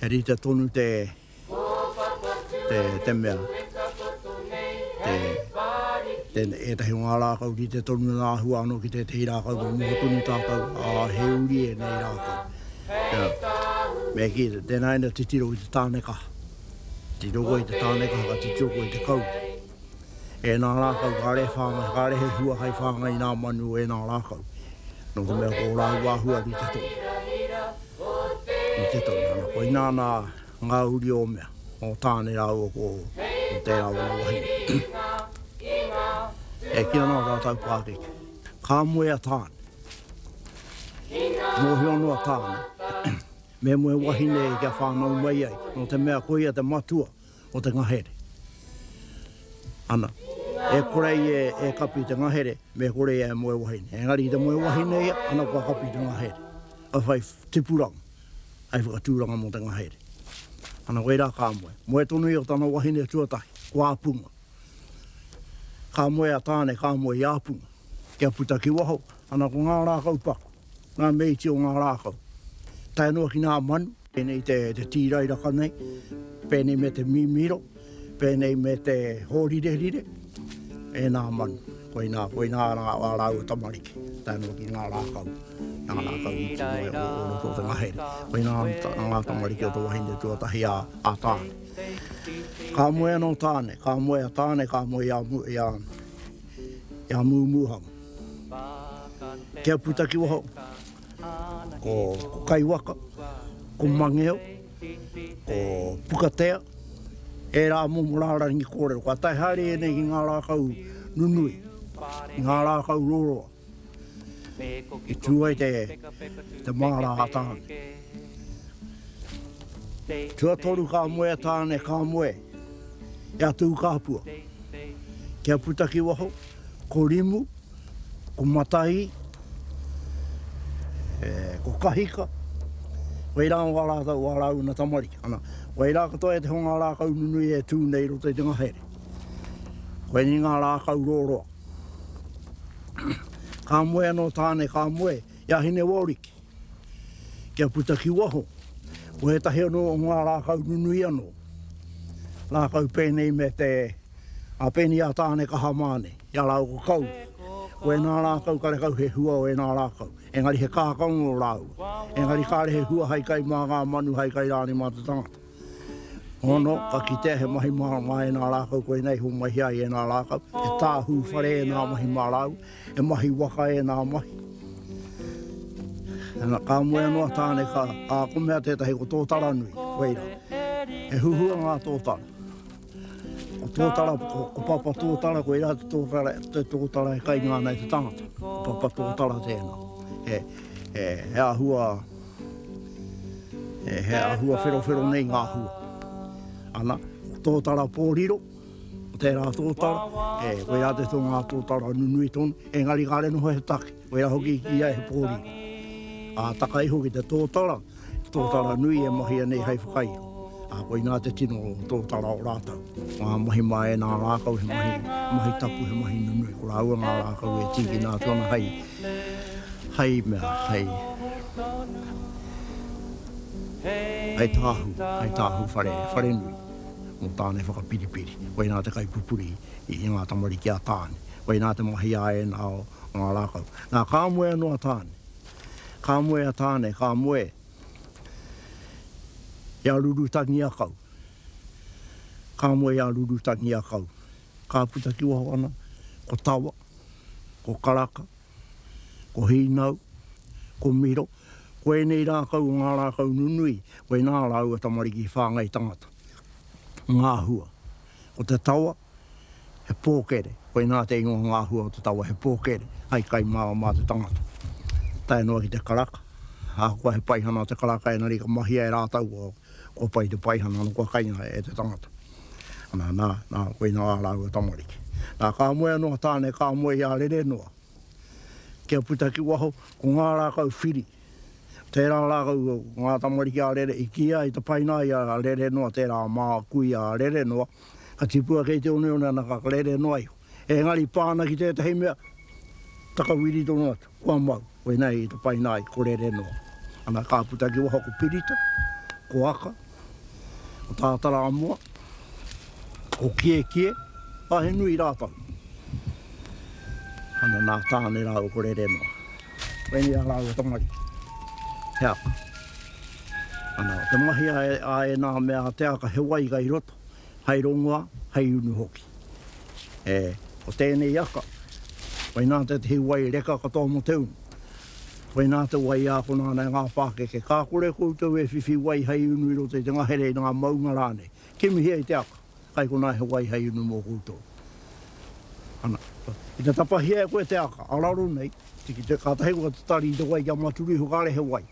He rita tonu te te mea. Te te e tahi ngā rākau ki te tonu nā hua anō ki te tehi rākau ka noho tonu tātou a he uri e nei rākau. Me ki te tēnā ina titiro i te tāne kaha. Titiro koe i te tāne kaha ka titiro koe i te kau. E nā rākau, kāre he whāngai, kāre he hua hei whāngai i nā manu e nā rākau, nō te mea ko ō rāua āhua rite tonu. Rite tonu, ana koinā nā ngā uri o mea, o Tāne rāua ko tērā o ngā wahine. E kī ana ō rātau pākeke, ka moe a Tāne, mōhio noa Tāne, me moe wahine kia whānau mai ai, nō te mea koia te matua, o te ngahere. Ana, e kore ia e kapi i te ngahere, me kore ia e moe wahine. Engari i te moe wahine ia, ana kua kapi i te ngahere. Ka whai tipuranga, hai whakatūranga mō te ngahere. Ana koirā ka moe. Moe tonu ia ko tana wahine tuatahi, ko Āpunga. Ka moe a Tāne, ka moe i Āpunga, kia puta ki waho, ana ko ngā rākau paku. Ngā mīti o ngā rākau. Tae noa ki ngā manu. Pēnei te tīrairaka nei. Pēnei me te mīmīro. Pēnei me te hōrirerire. E ngā manu. Koinā, koinā rā ā rāua tamariki. Tae noa ki ngā rākau. Ngā rākau i tino e ora o roto o te ngahere. Koinā ngā tamariki o te wahine tuatahi a Tāne. Ka moe anō Tāne. Ka moe a Tāne, ka moe i a Mūmūhanga. Te Apu Takiwaho, ko Kaiwaka, ko Mangeo, ko Pukatea, ērā momo rārangi kōrero. Kua tae haere ēnei ki ngā rākau nunui, ngā rākau roroa, i tū ai te māra a Tāne. Tuatoru ka moe a Tāne, ka moe e a Tūkāpua. Te Apu Takiwaho, Ko Rimu, ko Matahi, ko Kahika, whai rā wā rātou wā rāuna tamariki. Ana, whai rā katoa e te honga rākau nunui e tū nei roto i te ngahere. Koinei ngā rākau rōroa. Ka moe anō Tāne, ka moe, i a Hinewaoriki. Kia puta ki waho, ko ētahi anō o ngā rākau nunui anō, rākau pēnei me te Apeni a Tāne Kaha Māne, i a rāua ko Kau. Ko ēnā rākau karekau he hua o ēnā rākau, engari he kākano rāua, engari kāre he hua hai kai mā ngā manu hai kai rānei mā te tangata. Ono, ka kitea he mahi mārama e nā rākau koinei i homai ai e nā rākau, he tāhū whare e nā mahi mā rāua, he mahi waka e nā mahi. Ana, ka moe anō a Tāne, ka, ā, ko mea tētahi ko Tōtaranui, whai rā. He huhua ngā tōtara. Ko Tōtara, ko, ko Papa Tōtara, koe rā te tōtara, te tōtara e kainga ana e te tangata. Papa Tōtara tēnā. He, he, he āhua, He āhua wherowhero nei ngā hua. Ana, ko tōtara pōriro, ko tērā tōtara, e, koe rā te tō ngā tōtara nunui tonu, engari kāre noho he take, koe rā hoki ki ia he pōriro. Ā, taka iho ki te tōtara, he tōtara nui e mahia nei hei whakairo. Ā, koinā te tino tōtara o rātou. Ngā mahi mā ēnā rākau, he mahi, mahi tapu, he mahi nunui. Ko rāua ngā rākau e tīkina atu ana hei. Hei mea, hei. Hei tāhū, hei tāhū whare, whare nui. Mō tāna e whakapiripiri. Koinā te kaipupuri i ngā tamariki a Tāne. Koinā te mahi a ēnā o ngā rākau. Nā, ka moe anō a Tāne. Ka moe a Tāne, ka moe. I a Rurutangiakau. Ka moe i a Rurutangiakau. Ka puta ki waho ana, ko Tawa. ko Karaka, ko Hīnau, ko Miro, ko ēnei rākau o ngā rākau nunui, koinā rāua tamariki whāngai tangata. Ngāhua, ko te tawa, he pōkere, koinā te ingoa ngāhua o te tawa, he pōkere, hai kai māra mā te tangata. Tae noa ki te karaka, ahakoa he paihana o te karaka engari ka mahia e rātau Kua pai te paihana ana kua kainga e te tangata. Na, na, na, koina a raua tamariki. Na, ka moe ano a Tane, ka moe i a Rere noa. Kia puta ki waho, ko nga rakau whiri, tera rakau nga tamariki a Rere i ki ai ta paina i a Rere noa tera ma ku i a Rere noa, ka tipua kei te oneone ana ka Rere noa iho. Engari pa ana ki tetahi mea, takawiri tonu atu. Kua mau, koinei te paina ai, ko Rere noa. Ana, ka puta ki waho ko Pirita, ko Aka, ko Tātarāmoa, ko Kiekie, ā, he nui rātou. Ana, nā Tāne rāua ko Rere noa. Koinei ā rāua tamariki, he aka. Ana, te mahi a ēnā mea a te aka, he waiga i roto, Hei rongoa, hei unu hoki. E, ko tēnei aka, koinā te tihi wai reka katoa mō te unu. Koinā te wai ākona ana e ngā pākeke. Ka kore koutou e whiwhi wai hei unu i roto i te ngahere, i ngā maunga rānei. Kimihia i te aka, kai konā he wai hei unu mō koutou. Ana, ki te tapahia e koe te aka, araro nei, tiki te, kātahi koe te tari i te wai kia maturu iho kāre he wai.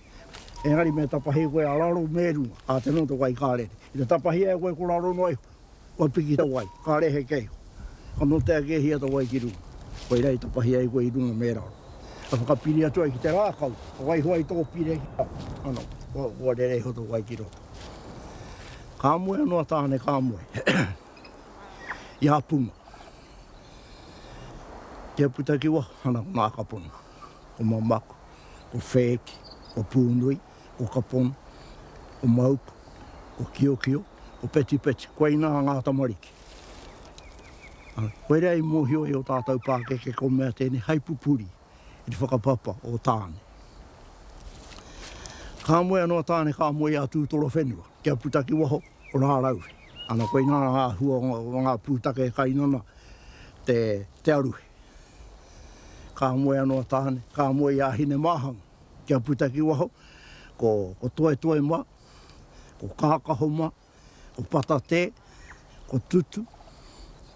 Engari me tapahi koe a raro me runga, a te noto wai ka rere. I te tapahia e koe ko raro noa iho, kua piki te wai, ka rehe kei ho. Ka note ake e hia te wai ki runga, koira i tapahia e koe i runga me raro. E whakapiri atu ai ki te rakau, ka waiho ai to pire ki a, ano, kua rere iho to wai ki roto. Ka moe ano a Tane, ka moe. I a Puma. Kia puta ki waho, ano, ko Makapono, ko Mamaku. ko Whēki, ko Pūnui, ko Kapona, ko Mauku, ko Kiokio, ko Petipetu, koinā ngā tamariki. Ā, koirā i mōhio e ō tātou pākeke ko mea tēnei hai pupuri i te whakapapa o Tāne. Ka moe anō a Tāne, ka moe i a Tūtoro whenua, kia puta ki waho o Rāraue. Ana, koinā ngā huonga o ngā pūtake e kainona te, te aruhe. Ka moe ano a Tahane, ka moe i a Hinemahang kia puta ki waho, ko Toetoe ma, ko Kakaho ma, ko Patate, ko Tutu,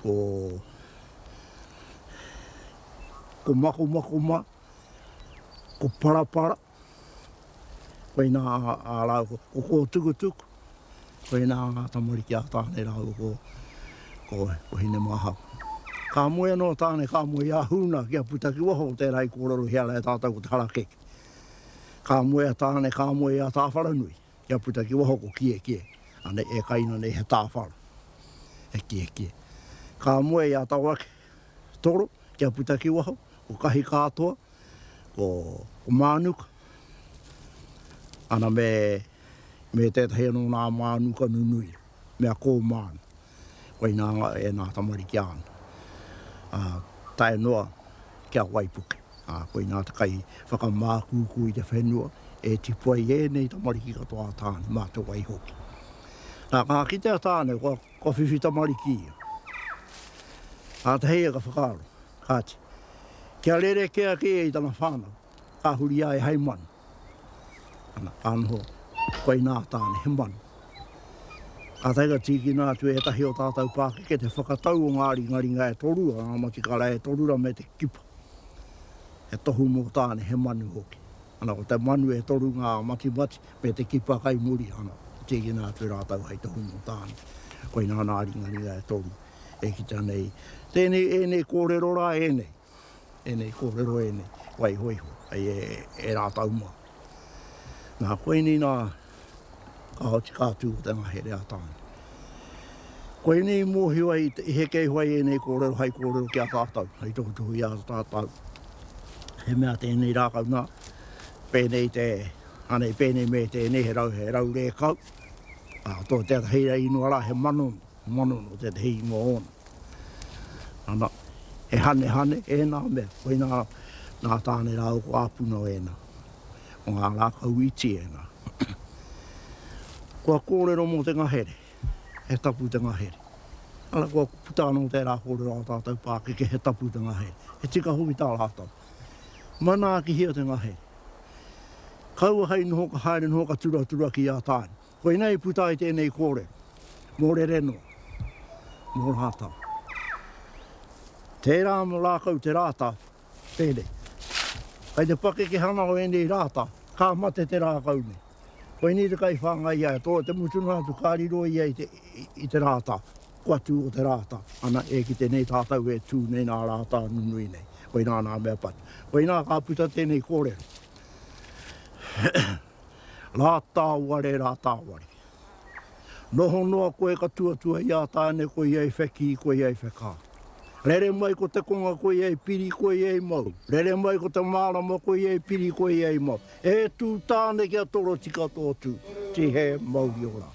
ko Makomako ma, ko Parapara, Koinā ā rāua ko kō tukutuku, koinā ngā tamariki a Tāne rāua ko, ko, ko Hinemāhau. Ka moe anō Tāne, ka moe i a Hūna kia puta ki waho o tērā i kōrero hea rae tātou ko te harakeke. Ka moe a Tāne, ka moe i a Tāwharanui kia puta ki waho ko Kiekie, anei e kai ana nei he tāwharo, he kiekie. Ka moe i a Tawake, Toro kia puta ki waho, ko Kahi kātoa, ko Mānuka, ana me tētahi anō nā Mānuka nunui, mea ko Mānu. Koinā e nā tamariki āna, ā, tae noa ki a Waipuke. Ā, koinā te kai whakamākūkū i te whenua e tipu ai ēnei tamariki katoa a Tāne mā te wai hoki. Nā, ka kite a Tāne, kua. Kua whiwhi tamariki ia. Kātahi ia ka whakaaro, kāti, kia rerekē ake ia i tana whānau, ka huri ai hei manu. Ana, ka noho koinā tāne he manu. Kātahi ka tīkina atu e ētahi o tātou pākeke te whakatau o ngā ringaringa e toru o ngā matikara e toru rā me te kipa. He tohu mō tāne he manu hoki. Ana, ko te manu e toru ngā matimati me te kipa kai muri, ana, i tīkina atu rātou hai tohu mō Tāne. Koina ana a Ringaringa e toru e kita nei tēnei, ēnei kōrero rā, ēnei, ēnei kōrero ēnei, waihoiho, hei e rātou mā. Nā, koinei nā Ka oti ka tū ko te ngahere a Tāne. Koinei i mōhio ai i heke iho ai ēnei kōrero hai kōrero ki a tātou, hai tohutohu i a tātou. He mea tēnei rākau nā, pēnei te, anei pēnei me tēnei he rau, he rau rēkau, ā, tō te ata hei rei inoa rā he mano, Mano no tetahi ingoa ona. Ana, e Hanehane, ena mea, koina na tane rau ko Apunao ena. O nga rakau iti ena. Kua korero mo te ngahere, he tapu te ngahere. Ana kua puta ano tera korero a tatou pakeke he tapu te ngahere. He tika hoki ta ratou. Manaakihia te ngahere. Kaua hei noho ka haere noho ka turatura ki a tae. Koinei i puta ai tēnei kōre mō Rereno, mō Rātau. Tērā mō Rākau te rāta, tēnei. Kai te pakekehanga o ēnei rāta, ka mate te rākau nei. Koinei te kaiwhāngai i a ia, tō te mutunga atu ka riro ia i te rāta, kua tū o te rāta, ana, e kite nei tātau e tū nei nā rāta nunui nei. Koinā nā mea patu. Koinā ka puta tēnei kōrero. Rātāware, rātāware. Noho noa koe ka tuatua i a Tāne koia i whekī, koia i whekā. Rere mai ko te konga koia i piri, koia i mau. Rere mai ko te mārama koia i piri, koia i mau. E tū Tāne kia torotika tō tū, tihē, mauri ora.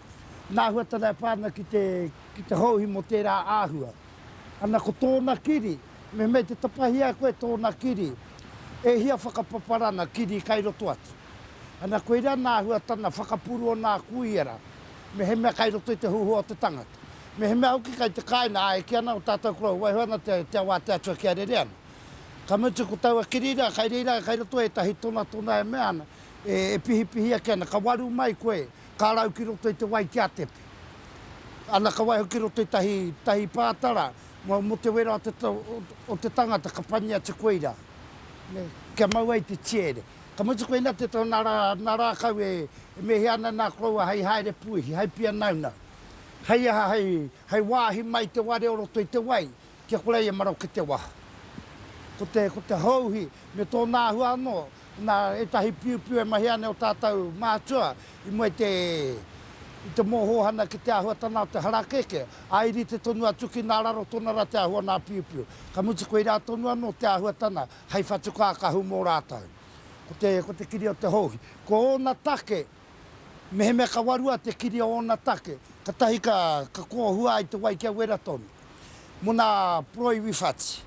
Nāhuatara e pā ana ki te, ki te houhi mō tērā āhua. Ana ko tōna kiri, me mei te tapahia koe tōna kiri, e hia whakapaparana kiri kai roto atu. Ana koirā nāhuatana whakapuru o nā kuiara, mehemea kai roto i te huhua o te tangata. Mehemea hoki kai te kāina āe ki ana o tātou koroua waiho ana te, te ao a te Atua kia rere ana. Ka mutu ko taua kiri rā, kai reira, kai roto ētahi tonatona e mea ana, e, e pihipihi ake ana, ka waru mai koe Ka rau ki roto i te wai kia tete. Ana ka waiho ki roto i tahi, tahi pātara, mau mo te wera o te, o te tangata ka pani atu koe i ra. Ne, kia mau ai te tiere. Ka mutu koina te to na ra, na rakau e, e mehia ana na koroua hei haere puihi, hei pia naunau. Hei aha, hei, hei wahi mai te ware o roto i te wai, kia kore ai e maroke te waha. Ko te, ko te houhi, me tona ahua ano, Na etahi piupiu e mahia ana e o tatou mātua i mua i te i te mohohana ki te ahuatana o te harakeke, a i rite tonu atu ki na raro tona ra te ahu o na piupiu. Ka mutu koira tonu ano te ahuatana hei whatukākahu mo ratou. Ko te ko te kiri o te houhi. Ko ona take. Mehemea ka warua te kiri o ōna take, katahi ka kōhua ai te wai kia wera tonu. Mo nā Puroi Wiwhati.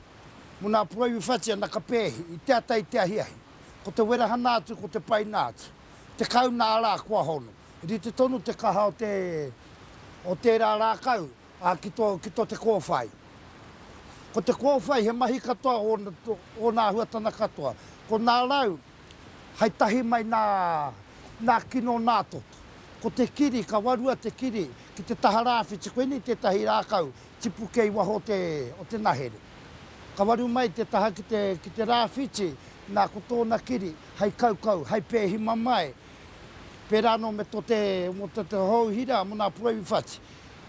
Mo nā Puroi Wiwhati ana ka pēhi, i te ata i te ahiahi. Ko te werahana atu ko te paina atu. Tekau nā rā kua hono. Rite tonu te kaha o te o tērā rākau a ki to ki to te kōwhai. Ko te kōwhai he mahi katoa o o nā huatana katoa. Ko nā rau. hai tahi mai nā, nā kino nā toto. Ko te kiri, ka warua te kiri ki te taha rāwhiti, koinei tētahi rākau tipu kei waho o te, o te nahere. Ka waru mai te taha ki te, ki te rāwhiti, nā ko tōna kiri, hai kaukau, hai pēhi mamae, pērā anō me tō te, mō tō te hou hira, mō nā puehu whati.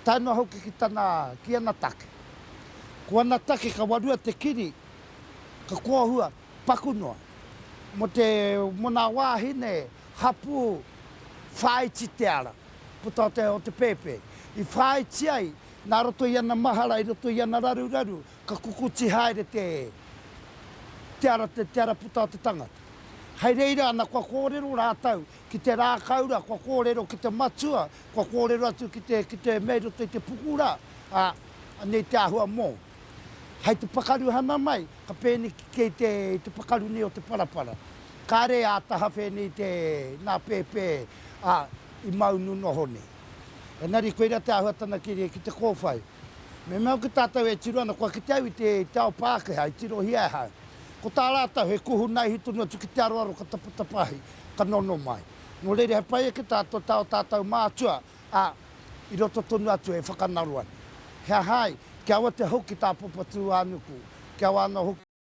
Tae noa hoki ki tana, ki ana take. Ko ana take ka warua te kiri, ka kōhua, paku noa, mō te mona wāhine hapū whāiti te ara, puta o te, o te pēpē, i whāiti ai nā roto i ana mahara, i roto i ana raruraru, ka kukuti haere te, te ara, te ara puta o te tangata. Hei reira ana kua kōrero rātou ki te rākaura, kua kōrero ki te matua, kua kōrero atu ki te, ki te mea i roto i te puku rā, ā, anei te āhua mōu. Hei te pakaru hana mai, ka pēneki kei te i te pakaru nei o te parapara. Kāre ā taha whēnei te nā pēpē ā i maunu noho nei. Engari koira te āhua tana keria ki te kōwhai. Me mea hoki tātou e tiro ana kua kite au i te i te ao Pākehā i tirohia e hau. Ko tā rātou he kuhu naihi tonu atu ki te aroaro ka tapatapa ahi, ka nono mai. Nō reira he pai ake tātou tā ō tātou mātua ā, i roto tonu atu e whakanaro ana. He aha ai? Kia aua te hau ki Tāpopatūānuku, kia aua anō hoki.